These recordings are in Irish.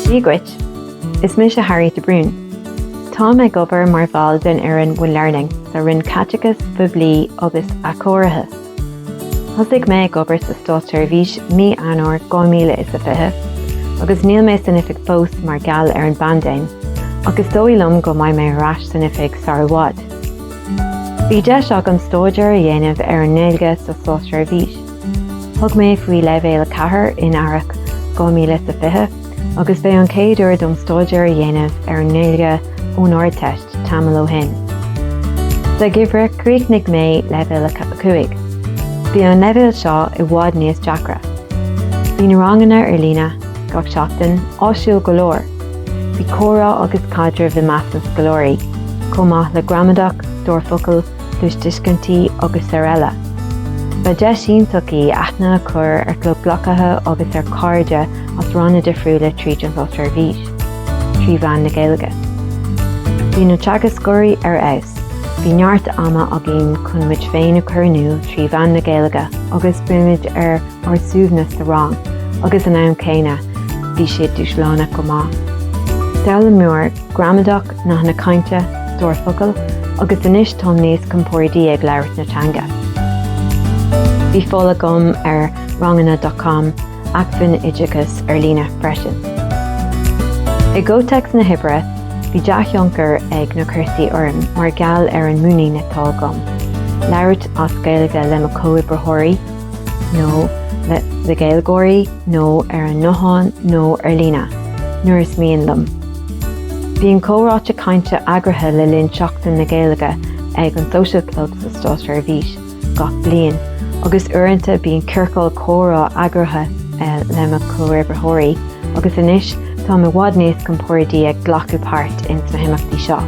Dia dhuit! Is mise Harriet de Brún. Táim ag obair mar bhall den fhoireann One Learning sa Roinn Caiteachais Phoiblí agus Athchóirithe. Thosaigh mé ag obair sa Státseirbhís mí Eanáir 2020 agus níl mé san oifig fós mar gheall ar an bpaindéim ach is dóigh liom go mbeidh mé ar ais san oifig sara bhfad. Bhí deis agam stáidéar a dhéanamh ar an nGaeilge sa Státseirbhís. Thug mé faoi Leibhéal 4 in Earrach 2020 agus b'é an chéad uair dom stáidéar a dhéanamh ar an nGaeilge ón Ardteist tamall ó shin. Sa gheimhreadh chríochnaigh mé Leibhéal 5. Bhí an leibhéal seo i bhfad níos deacra. Bhí na ranganna ar líne, gach seachtain, áisiúil go leor. Bhí comhrá agus caidreamh i measc na scoláirí, chomh maith le gramadach, stór focal, cluastuiscintí agus araile. Ba deis iontach í aithne a chur ar chomhghleacaithe agus ar chairde as ranna difriúla tríd an Státseirbhís, trí mheán na Gaeilge. Bhí na teagascóirí ar fheabhas, bhí neart ama againn chun muid féin a chur in iúl trí mheán na Gaeilge agus bímid ar ár suaimhneas sa rang agus ag an am céanna bhí siad dúshlánach go maith. D'fhoghlaim mé gramadach nathanna cainte, stór focal agus anois táim níos compóirdí ag labhairt na teanga. Bhí fáil agam ar ranganna dot com, acmhainn oideachais ar líne, freisin. I gcomhthéacs na hoibre bhí dea-thionchar ag na cúrsaí orm mar gheall ar an muinín atá agam labhairt as Gaeilge le mo chomhoibritheoirí, nó le Gaeilgeoirí nó ar an nguthán nó ar líne, nuair is mian liom. Bíonn comhráite cainte eagraithe le linn Seachtain na Gaeilge ag an Social Club sa Státseirbhís gach bliain agus uaireanta bíonn ciorcal comhrá eagraithe le mo chomhoibritheoirí agus anois táim i bhfad níos compordaí ag glacadh páirt ins na himeachtaí seo.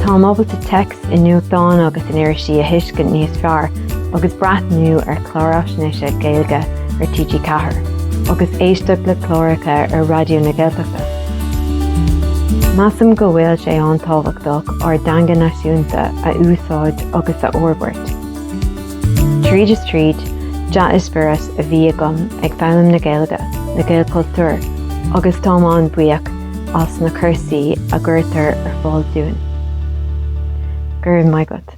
Táim ábalta téacs i nuachtáin agus in irisí a thuiscint níos fearr agus breathnú ar chláir fhaisnéise Gaeilge ar TG4 agus éisteacht le cláracha ar Raidió na Gaeltachta. Measaim go bhfuil sé an-tábhachtach ár dteanga náisiúnta a úsáid agus a fhorbairt. Tríd is tríd, dea-eispéireas a bhí agam ag foghlaim na Gaeilge, le Gaelchultúr, agus táim an-bhuíoch as na cúrsaí a gcuirtear ar fáil dúinn. Go raibh maith agat.